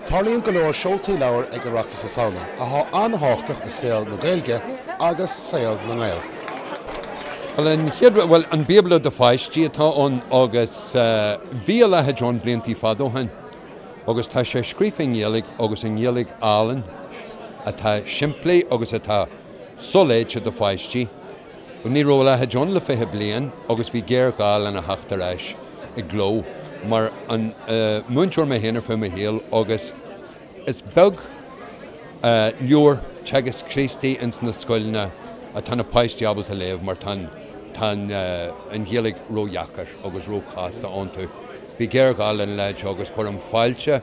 Tarlaíonn go leor seoltaí leabhar ag Oireachtas na Samhna atá an-tábhachtach i saol na Gaeilge agus saol na nGael. An chéad rud, bhuel, an Bíobla do pháistí atá ann agus bhí a leithéid ann blianta fada ó shin agus tá sé scríofa i nGaeilig agus i nGaeilig álainn atá simplí agus atá soléite do pháistí. Ní raibh a leithéid ann le fiche bliain agus bhí géarghá lena theacht ar ais i gcló. Mar mhúinteoir mé féin ar feadh mo shaoil agus is beag leabhar Teagasc Críostaí ins na scoileanna atá na páistí ábalta léamh mar tá an Ghaeilig ródheacair agus róchasta iontu. Bhí géarghá lena leithéid seo agus cuirim fáilte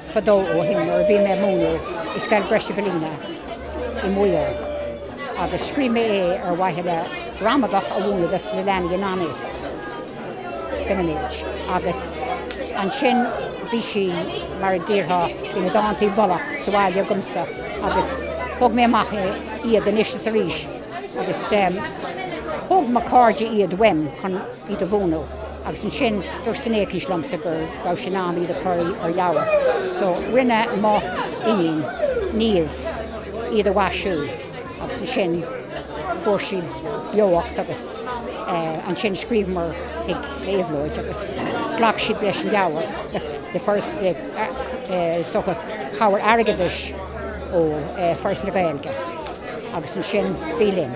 Fadó ó shin, nuair a bhí mé ag múineadh i Scoil Greshevellina i Maigh Eo, agus scríobh mé é ar mhaithe le gramadach a mhúineadh dos na leanaí i ngan fhios dóibh féinig, agus ansin bhí sí, mar a déarfá, bhí na dánta i bhfolach sa bhaile agamsa, agus thóg mé amach é, iad, anois is arís, agus thóg mo chairde iad uaim chun iad a mhúineadh. Agus ansin dúirt duine éicínt liomsa go raibh sé in am iad a chur ar leabhar. So rinne mo iníon, Niamh, iad a mhaisiú agus ansin fuair siad beocht agus eh, ansin scríobhamar chuig Éabhlóid agus ghlac siad leis an leabhar le, le Foras le, eh, is dócha, cabhair airgeadais ó eh, Foras na Gaeilge agus ansin bhí linn.